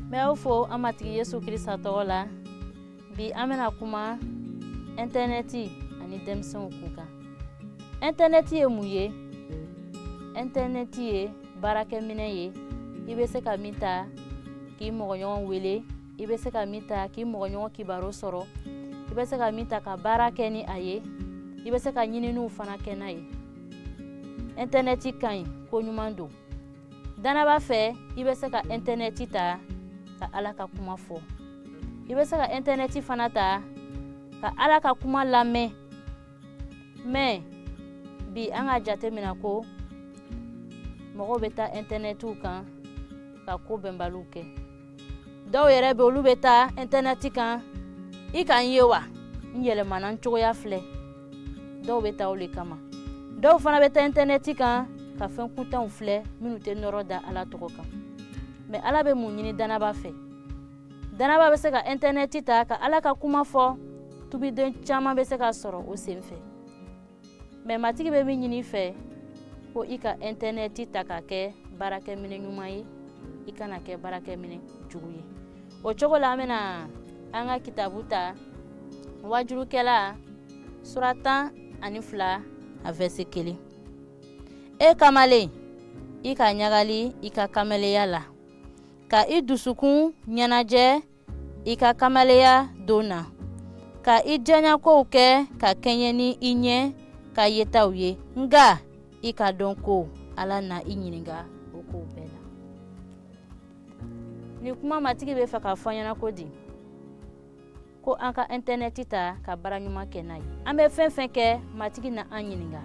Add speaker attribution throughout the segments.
Speaker 1: n b'aw fo an matigi yesu krista tɔgɔ la bi an bɛna kuma ɛntɛnɛti ani denmisɛnw kun kan ɛntɛnɛti ye mun ye ɛntɛnɛti ye baarakɛminɛ ye i bɛ se ka min ta k'i mɔgɔɲɔgɔn wele i bɛ se ka min ta k'i mɔgɔɲɔgɔn kibaru sɔrɔ i bɛ se ka min ta ka baara kɛ ni a ye i bɛ se ka ɲininiw fana kɛ n'a ye ɛntɛnɛti ka ɲi ko ɲuman don dannabaa fɛ i bɛ se ka ɛntɛnɛti ta ka ala ka kuma fɔ i bɛ se ka ɛntɛnɛti fana ta ka ala ka kuma lamɛn mɛ bi an ka jate mina ko mɔgɔw bɛ taa ɛntɛnɛtiw kan ka ko bɛnbaliw kɛ dɔw yɛrɛ bɛ olu bɛ taa ɛntɛnɛti kan i ka n ye wa n yɛlɛmana n cogoya filɛ dɔw bɛ taa o le kama dɔw fana bɛ taa ɛntɛnɛti kan ka fɛn kuntanw filɛ minnu tɛ nɔrɔ da ala tɔgɔ kan mɛ ala bɛ mun ɲini dannabaa fɛ dannabaa bɛ se ka ɛntɛnɛti ta ka ala ka kuma fɔ tubiden caman bɛ se ka sɔrɔ o sen fɛ mɛ matigi bɛ min ɲini i fɛ ko i ka ɛntɛnɛti ta k'a kɛ baarakɛminɛ ɲuman ye i kan'a kɛ baarakɛminɛ jugu ye o cogo la an bɛna an ka kitabu ta waajulikɛla sura tan ani fila a vɛrse kelen e kamalen i ka ɲagali i ka kamaleya la ka i dusukun ɲɛnajɛ i ka kamaleya don na ka i diyaɲakow kɛ ka kɛɲɛ ni i ɲɛ ka yetaw ye nga i k'a dɔn ko ala na i ɲininka o kow bɛɛ la nin kuma matigi bɛ fɛ k'a fɔ ɲɛna ko di ko an ka ɛntɛnɛti ta ka baara ɲuman kɛ n'a ye an bɛ fɛn fɛn kɛ matigi na an ɲininka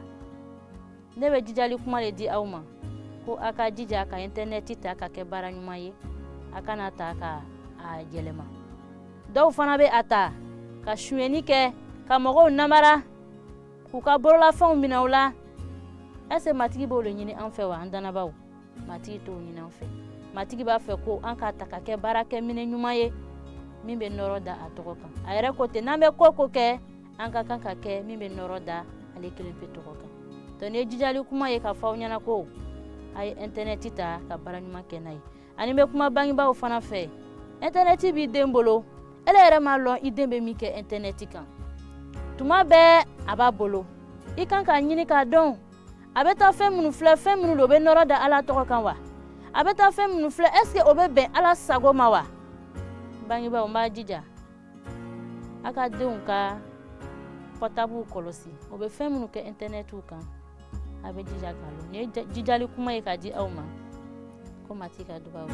Speaker 1: ne bɛ jijali kuma le di aw ma ko a ka jija ka ɛntɛnɛti ta k'a kɛ baara ɲuman ye a kan'a ta ka a yɛlɛma dɔw fana bɛ a ta ka sunyɛni kɛ ka mɔgɔw namara k'u ka bololafɛnw minɛ u la ɛse matigi b'o le ɲini an fɛ wa an dannabaaw matigi t'o ɲini an fɛ matigi b'a fɛ ko an k'a ta k'a kɛ baarakɛminɛ ɲuman ye min bɛ nɔrɔ da a tɔgɔ kan a yɛrɛ ko ten n'an bɛ ko ko kɛ an ka kan ka kɛ min bɛ nɔrɔ da ale kelen pe tɔgɔ kan dɔnki nin ye jijali kuma ye ka fɔ aw ɲɛna ko a ye ɛntɛnɛti ta ka baara ɲuman kɛ n'a ye ani n bɛ kuma bangebaaw fana fɛ ɛntɛnɛti b'i den bolo ele yɛrɛ m'a lɔn i den bɛ min kɛ ɛntɛnɛti kan tuma bɛɛ a b'a bolo i kan k'a ɲini k'a dɔn a bɛ taa fɛn minnu filɛ fɛn minnu don o bɛ nɔrɔ da ala tɔgɔ kan wa a bɛ taa fɛn minnu filɛ ɛseke o bɛ bɛn ala sago ma wa bangebaaw n b'a jija a ka denw ka pɔtabuw kɔlɔsi o bɛ fɛn minnu kɛ intɛnɛtiw kan a bɛ jija k'a lɔn nin ye jijali kuma ye k'a di aw ma ko matigi ka dubabu